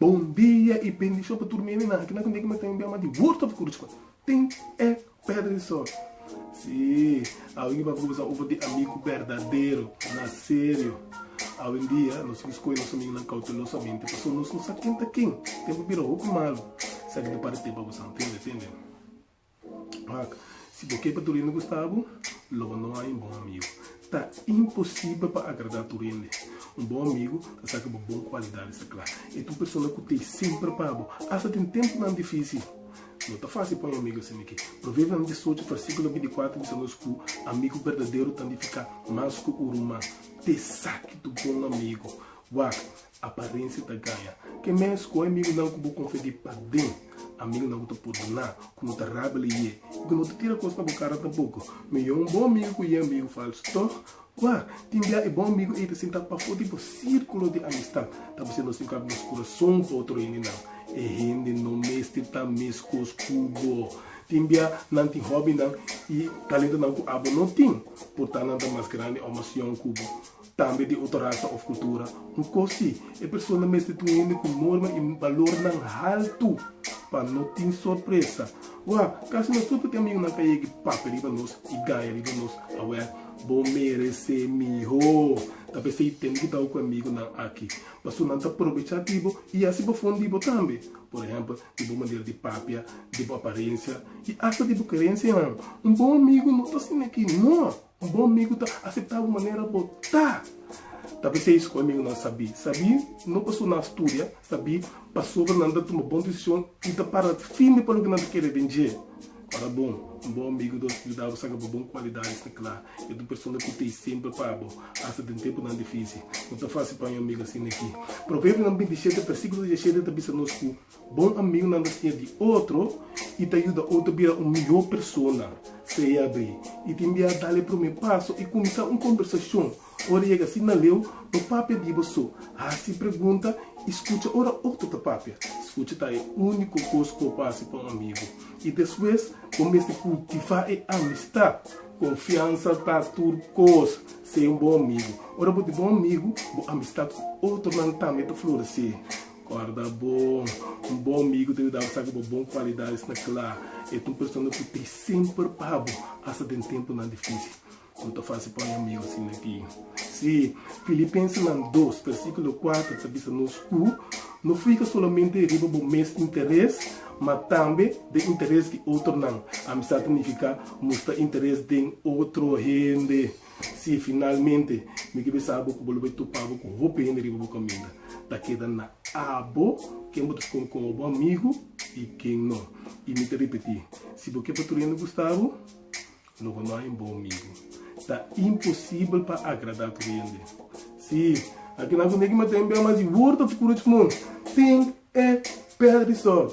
Bon dia y bendicion pa tur mi aminan aki nan tende ki mi ta envia mas di word of encouragement tin e pedra di sol si awe mi papia conversa over di amigo berdadero na serio awe en dia nos tin ki scoge nos amigo nan cautelosamente pasobra nos no sa ken ta ken tempo bira hopi malo sa ki ta para tempo avansa tende tende. Ak, si bo ke pa tur hende gusta bo, lo bo no hay un bon amigo. Ta imposible pa agradá tur hende. Un bon amigo ta saca bo bon cualidades ta cla. E ta un persona cu ta ey semper pa bo, hasta den temponan dificil. No ta fácil pa un amigo hasi miqui. Proverbios nan diesocho, versículo binticuater bisa nos cu amigo berdadero ta nificá mas cu uru man. Te saque tu bon amigo. Wak, Aparensia ta gaña. Ke mes ku amigunan ku bo konfia di paden, amigunan ku ta pordoná, ku no ta rabele yé i ku no ta tira kos na bo kara tampoko. Mihó un bon amigu ku yé amigu falsu. Tòg, kua tin bia e bon amigu ei ta sinta pafó di bo sírkulo di amistat? Ta mester nos tin kaba nos kurason pa otro hendenan. E hende no mester ta meskos ku bo. Tin bia nan tin hòbinan i talentonan ku abo no tin, portá nan ta mas grandi òf mas yòn ku bo. Tambe di oto rasa of kultura. Un kos si, e persona mester tin hende ku norma i balornan haltu pa no tin sorpresa. Wè, kasi nos tur ta tin amigu nan ka yegi papia riba nos i gaya riba nos. Awè, bo meresé mihó. Ta p'esei tende di tau ku e amigu nan aki, paso nan ta probechá di bo i hasi bo fon di bo tambe. Por ehèmpel, di bo manera di papia, di bo aparensia i asta di bo kerensianan. Un bon amigu no ta asina aki, nò! Bon migu ta aseptá bo manera bo ta. Ta bis'ei esco amigunan sabí. Sabí no pasobra nan a studia, sabí pasobra nan ta tuma bon decision i ta para firme pa loke nan ta kere den dje. Ora bon, un bon amigu ta yuda bo saca bo bon cualidades na cla. E ta un persona cu ta e semper pa bo, hasta den tempunan difici. No ta fácil pa un amigu asina aki. Proverbios bintisiete, versiculo diecisiete ta bisa nos cu. Bon amigunan ta siña di otro i ta yuda otro bira un mihó persona. Sea e abrí i tin bia dal e promé paso i kuminsá un kombersashon. Ora yega así na leu, no papia di bo so. Hasi pregunta i skucha ora otro ta papia. Skucha ta e úniko kos ku bo por hasi pa un amigu. I despues, bo mester kultivá e amistat. Konfiansa ta tur kos. Sea un bon amigu. Ora bo tin bon amigu, bo amistat ku otronan tambe ta floresé. Guarda bo. Un bon migu ta yudabo sabi bo bon kualidadis na kla. E ta un persona ku ta semper pa bo, asta den tempunan difísil. No ta fásil pa oja migu asina aki. Sí, Filipensenan dos, versíkulo kuater ta bisa nos ku no fika solamente riba bo mes interes, ma tambe den interes di otronan. Amisá ta nifiká mustra interes den otro hende. Si finalmente mi ke bisa bo ku bo lo bai topa bo ku hopi hende riba bo kaminda, ta keda na abo ken bo ta skon komo bo amigu i ken no. I mi ta ripití, si bo ke patrulhando Gustavo, lo bo no haña un bon migu. Ta imposibel pa agradá tur hende. Sí, alkinan ku negi mata hende a mas di worde fu kuru e smun, tin e pèrdè di sòl.